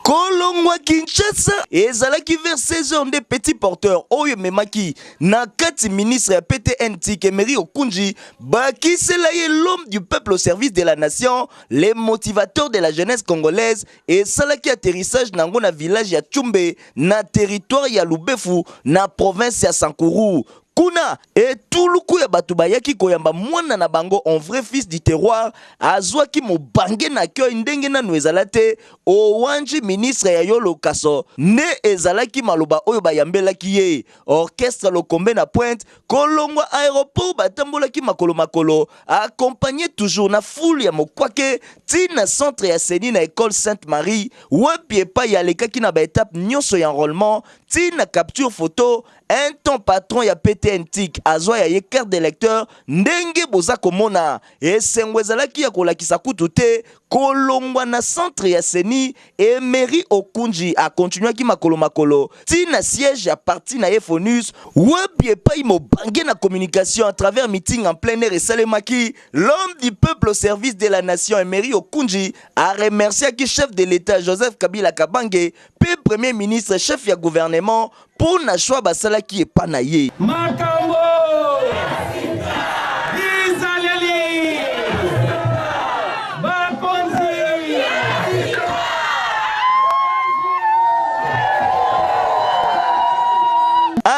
kolongwa kinshasa ezalaki vers 16h nde petit porteur oyo ememaki na kati ministre ya ptn tikemeri okunji bakisela ye l'homme du peuple au service de la nation le motivateur de la jeunesse congolaise esalaki atterrissage na yango na village ya chumbe na territoire ya lubefu na province ya sankuru kuna Etuluku ya bato bayaki koyamba mwana na bango en vrai fils du terroir azuaki mobange na accueil ndenge nanu ezala te o wanji ministre ya yolo kaso nde ezalaki maloba oyo bayambelaki ye orchestre lokombe na pointe kolongwa aeroport batambolaki makolo makolo accompagne toujours na foule ya mokwake ti na centre ya ceni na ecole sainte marie wapi epayi alekaki na ba etape nionso ya enrolement ti na capture photo Un temps patron ya PTN tic azua ya ye carte d'electeur ndenge boza komona esengo ezalaki ya kolakisa kutu te kolongua na centre ya ceni Emery Okundji a continuaki makolo makolo ti na siège ya parti na ye Fonus Web epayi mobange na communication à travers meeting en plein air esalemaki L'homme du peuple au service de la nation Emery Okundji a remerciaki chef de l'Etat Joseph Kabila Kabange mpe Premier ministre chef ya gouvernement Mpo na choix basalaki epa na ye. Makambo!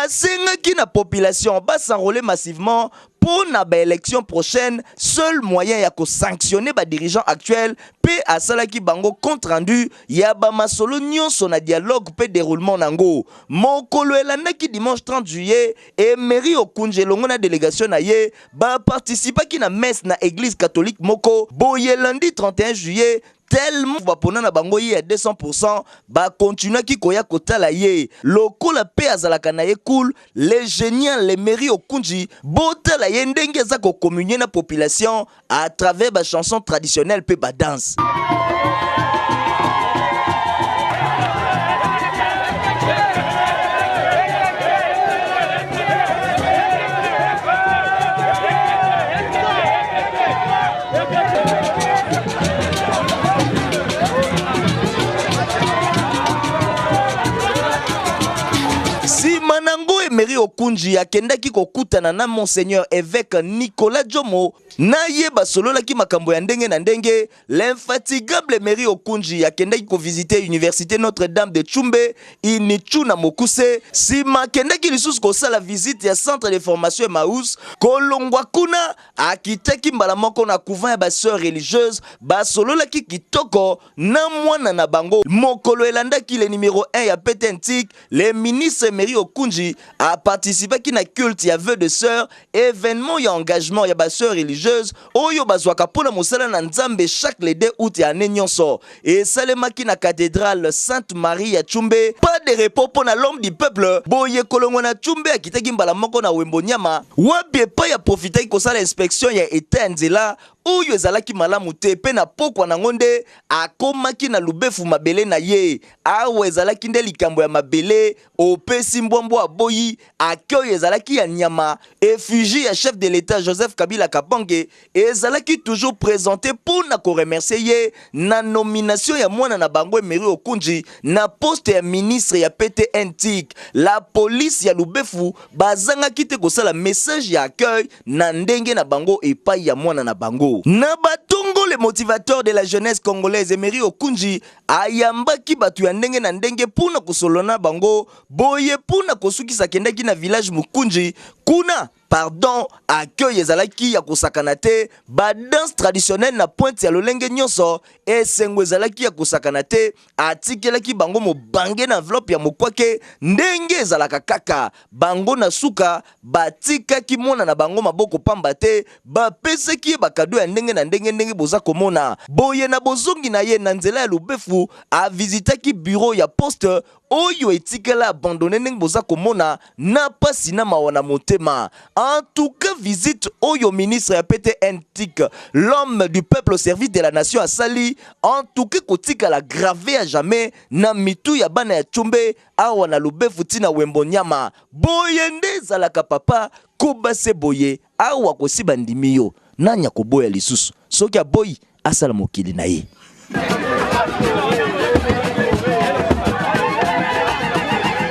asengaki na population ba s'enrôler massivement pour na ba élection prochaine seul moyen ya ko sanctionner ba dirigeants actuels pe asalaki bango compte rendu ya ba masolo nionso na dialogue mpe deroulement nango. Mokolo elandaki, dimanche 30 juillet, Emery Okundji elongo na delegation na ye ba participaki na messe na eglise catholique moko boye. Lundi 31 juillet, tel bapona na bango ye ya 200 pour 100, ba continuaki koya kotala ye lokola mpe azalaka na ye cool. Le genial Emery Okundji, botala ye ndenge aza ko communier na population. à travers ba chansons traditionnelles pe ba danse. Emery Okunji akendaki kokutana na Monseigneur évêque Nicolas Jomo na ye basololaki makambo ya ndenge na ndenge. L'infatigable Emery Okundji akendaki ko visiter universite Notre Dame de Tshumbe, Initshu na mokuse. Sima akendaki lisusu kosala visite ya centre de formation Emmaus. Kolongwa kuna, akitaki mbala moko na couvent ya ba soeurs religieuses. Basololaki kitoko na mwana na bango. Mokolo elandaki, le numero un ya PTN Tic. Le ministre Emery Okunji a participaki na culte ya vœux de sœur, evenement ya engagement ya ba sœurs religieuses oyo bazwaka mpo na mosala na Nzambe chaque le 2 aout ya annee nionso. Esalemaki na cathedrale Sainte Marie ya Tshumbe. Pas de repos mpo na l'homme du peuple, boye kolongwa na Tshumbe akitaki mbala moko na Wembo Niama, wapi epayi a profitaki kosala inspection ya etat ya nzela oyo ezalaki malamu te mpe na pokwa nango nde akomaki na lubefu mabele na ye. Awa ezalaki nde likambo ya mabele opesi mbwa mbwa aboyi ake oyo ezalaki ya nyama effugie ya chef de l'etat Joseph Kabila Kabange ezalaki toujours presente mpo na koremercie ye na nomination ya mwana na bango Emery Okunji na poste ya ministre ya PTN tik la police ya Lubefu bazangaki te kosala message ya accueil na ndenge na bango epai ya mwana na bango na batongo le motivateur de la jeunesse congolaise Emery Okunji Ayambaki bato ya ndenge na ndenge mpo na kosolola na bango, boye mpo na kosukisa akendaki na village Mukunji, kuna pardon accueil ezalaki ya kosakana te, ba danse traditionnelle na pointe ya lolenge nionso, esengo ezalaki ya kosakana te, atikelaki bango mobange na enveloppe ya mokwake ndenge ezalaka kaka, bango na suka Batikaki mwana na bango maboko pamba te, bapesaki ye bakado ya ndenge na ndenge, ndenge boza komona. Boye, na bozongi na ye, na nzela ya Lubefu, a visitaki bureau ya poste oyo etikala abandonne, ndenge boza komona, na pasi na mawa na motema. En tout cas, visite oyo ministre ya PTNTIC, l'homme du peuple au service de la nation, asali, en tout cas ekotikala grave à jamais na mitu ya bana ya Tshombe, Awa na lubefu ti na wembo niama boye nde ezalaka papa koba se boye awa kosi bandimi yo nani akoboya lisusu soki aboyi asala mokili na ye.